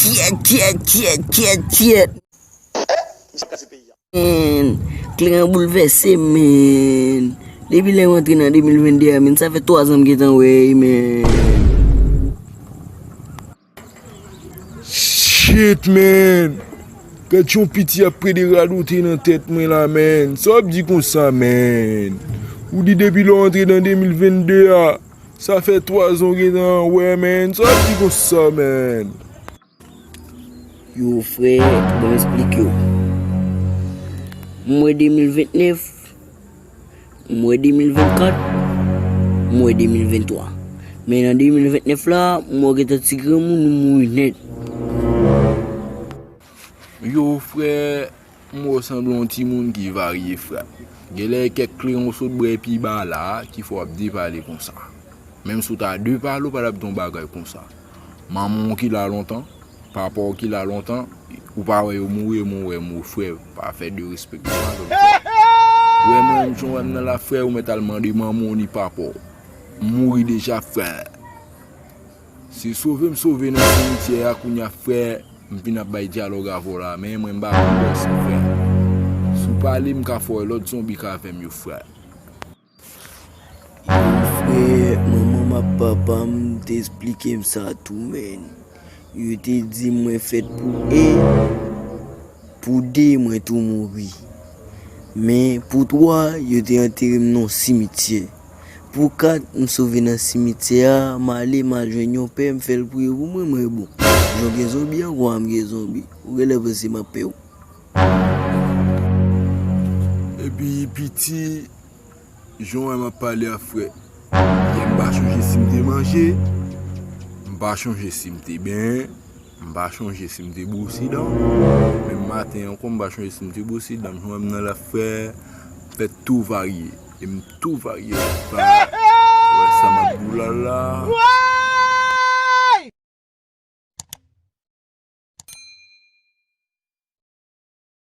Kyèt kyèt kyèt kyèt kyèt menn Kleren an boulvèse menn Depi lè m antre nan 2022 a menn sa fè 3 zan m gentan wè e menn Shit menn Gad yon piti ap prè de radote nan tèt mwen la menn Sa w ap di konsa menn Ou di depi lè w antre nan 2022 a. Sa fè 3 zan w gentan anwe menn, sa w ap di konsa menn? Yo frè, bon m esplike w. M wè 2029, m wè 2024, m wè 2023. Men nan 2029 la, m wè w gentan ti granmoun, ou mouri nèt. Yo frè. M wè w sanble yon timoun ki varye frèt. Genlè e kèk kleren w sot bwè pi ba la a ki fè w ap depale konsa. Menm si w ta depale w pa tap di yon bagay konsa. Manman w ki la lontan, papa w ki la lontan, ou pa wè yo mouri e mwen wè yo mouri frè pa fè derespè konsa avè m frè. Wè mwen menm jan w wè m nan la frè ou mèt al mande manman w ni papa w. M mouri deja frè. Se sove m sove nan simityè a kounya frè m vin ap bay dyalòg avè w la men mwen m pa konn danse frè si w pale m ka fè w lòt zonbi k avè m yo frè. Yow frè manman m ak papa m t esplike m sa tou menn yo te di m mwen fèt pou 1 pou 2 mwen tou mouri men pou 3 yo te antere m nan yon simityè. Pou kat m sove nan simityè a M ale m al jwenn yon pè M fè l priye pou mwen Mwen bon jan w gen zonbi an Kwa m gen zonbi Ou genlè panse m ap pè w Epi piti Jan w wè m ap pale a frè Yè m pa chonje si m te manje M pa chonje si m te benyen M pa chonje si m te bwosi dan Menm maten ankò m pa chonje si m te bwosi dan Jan w wè m nan la frè Fè tou varye E m tou varye m pa wè sa map di w la la.